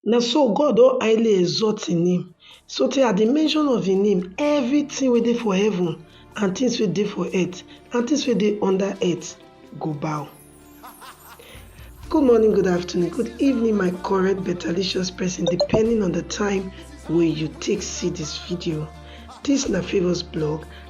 Na so God don highly exalt im name so tey at di mention of im name, everything wey dey for heaven and things wey dey for earth and things wey dey under earth go bow. Good morning, good afternoon, good evening my correct betterlicious person depending on the time wey you take see this video. This na Favours blog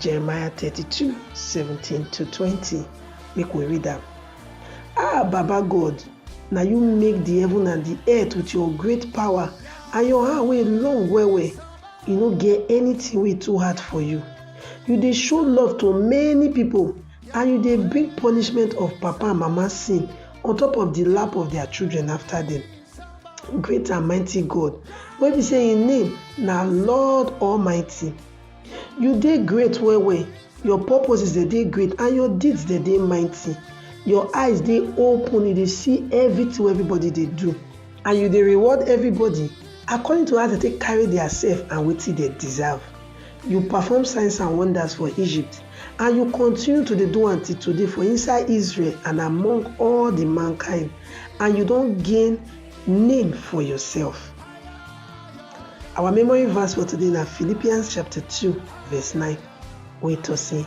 Jeremiah thirty two seventeen to twenty make we read am. Ah Baba God, na you make di heaven and di earth wit your great power and your hand wey long well well, e no get anytin wey too hard for you. You dey show love to many pipo and you dey bring punishment of papa and mama sin on top of di lap of dia children afta dem. Great and mighty God wey be say im name na Lord Almighty. You dey great well well, your purposes dem dey great and your deeds dem dey mighty. Your eyes dey open, you dey see everything wey everybody dey do and you dey reward everybody according to as dem take carry their self and wetin dem deserve. You perform signs and wonders for Egypt and you continue to dey do am till today for inside Israel and among all the mankind and you don gain name for yourself. Our memory verse for today na Philippians chapter 2 verse 9 wey talk say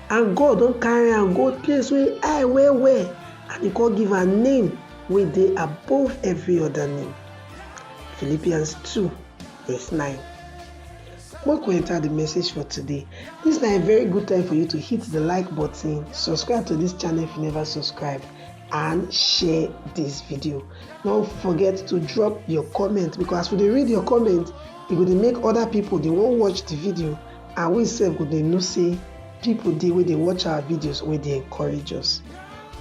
and God don carry am go place wey high well well and he come give am name wey dey above every other name. Philippians 2 verse 9. Make we enter the message for today. This na a very good time for you to hit the like button, subscribe to this channel if you never subscribe and share this video no forget to drop your comment because as we dey read your comment e go dey make other people dey wan watch the video and we sef go dey know say people dey wey dey watch our videos wey dey encourage us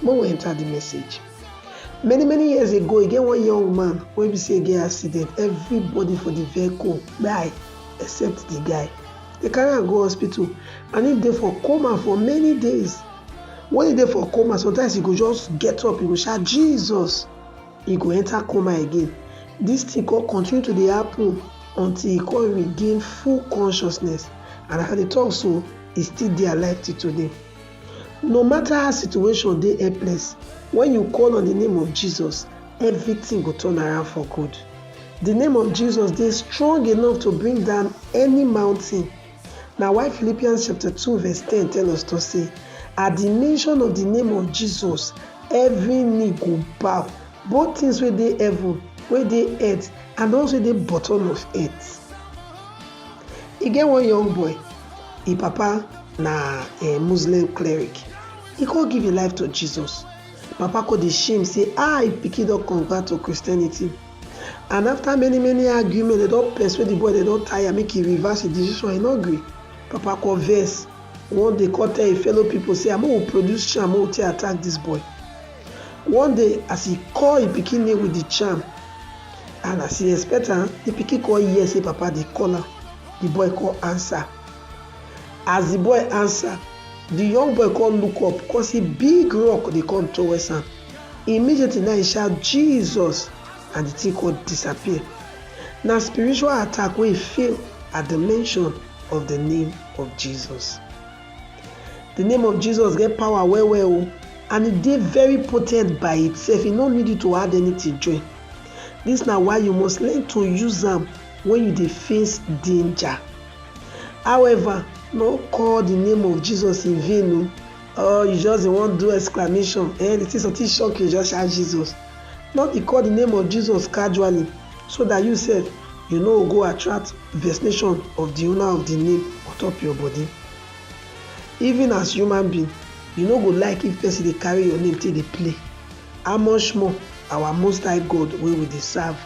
make we enter the message many many years ago e get one young man wey be say e get accident everybody for the vehicle kpai except the guy they carry am go hospital and he dey for coma for many days When e dey for coma, sometimes e go just get up, e go shout Jesus, e go enter coma again. This thing come continue to dey happen until e come regain full consciousness and as I dey talk so, e still dey alive till today. No matter how situation dey helpless, when you call on the name of Jesus, everything go turn around for good. The name of Jesus dey strong enough to bring down any mountain Na why Philippians chapter two verse ten tell us to say, At the mention of the name of Jesus, every knee go bow, both things wey dey heaven, wey dey earth, and those wey dey bottom of earth. E get one young boy, im papa na um Muslim cleric, e come give im life to Jesus. Papa come dey shame say, ah, im pikin don convert to Christianity. And after many many argument, dem don persuade the boy, dem don tire make he reverse his decision, he no gree. Papa come vex. One day come tell him fellow people say make we produce charm make we take attack this boy. One day as he call him pikin name with the charm and as he expect am, the pikin come hear say papa dey call am. The boy come answer. As the boy answer, the young boy come look up come see big rock dey come towards am. Immediately na he shout Jesus and the thing come disappear. Na spiritual attack wey he fail at the mention of the name of Jesus. The name of Jesus get power well well o and e dey very potent by itself, e no need you to add anything join. This na why you must learn to use am when you dey face danger. However, no call the name of Jesus in vain o. or you just dey wan do exclamation eh the thing something shock you just shout jesus no be call the name of jesus casually so that you sef you no go attract vexation of the owner of the name on top your body even as human being you no go like if person dey carry your name take dey play how much more our most high god wey we dey serve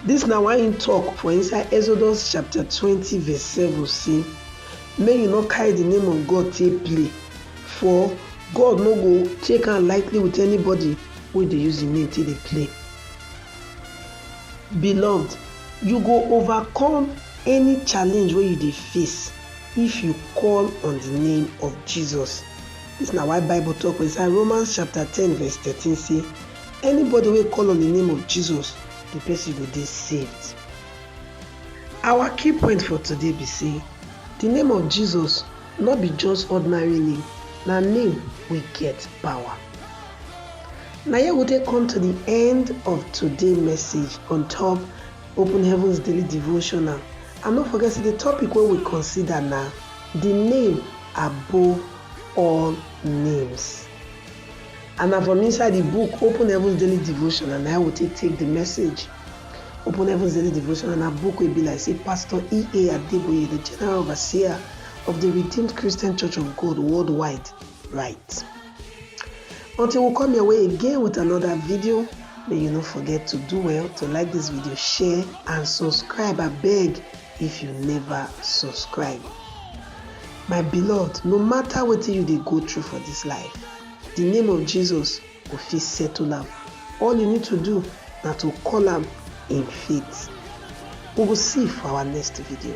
Dis na why im tok for inside Exodus chapter twenty verse seven sey, Make you no carry di name of God take play, for God no go take am lightly with anybody wey dey use im name take dey play. Beloved, you go overcome any challenge wey you dey face if you call on di name of Jesus. Dis na why Bible tok for inside Romans chapter ten verse thirteen sey, Anybody wey call on the name of Jesus, the person go dey saved. Our key point for today be say the name of Jesus no be just ordinary name, na name wey get power. Na here we take come to the end of today message on top Open Heavens Daily Devotional. And no forget say the topic wey we consider na the name above all names. And na from inside di book Open Heavens Daily Devotional na im we take take di message. Open Heavens Daily Devotional na book wey be like say Pastor E.A. Adeboye, di General Overseer of di Redeemed Christian Church of God worldwide, write. Until we come your way again with another video, may you no forget to do well to like dis video, share and subscribe abeg if you never subscribe. My beloved, no matter wetin you dey go through for dis life, The name of Jesus go fit settle am, all you need to do na to call am in faith. We go see for our next video.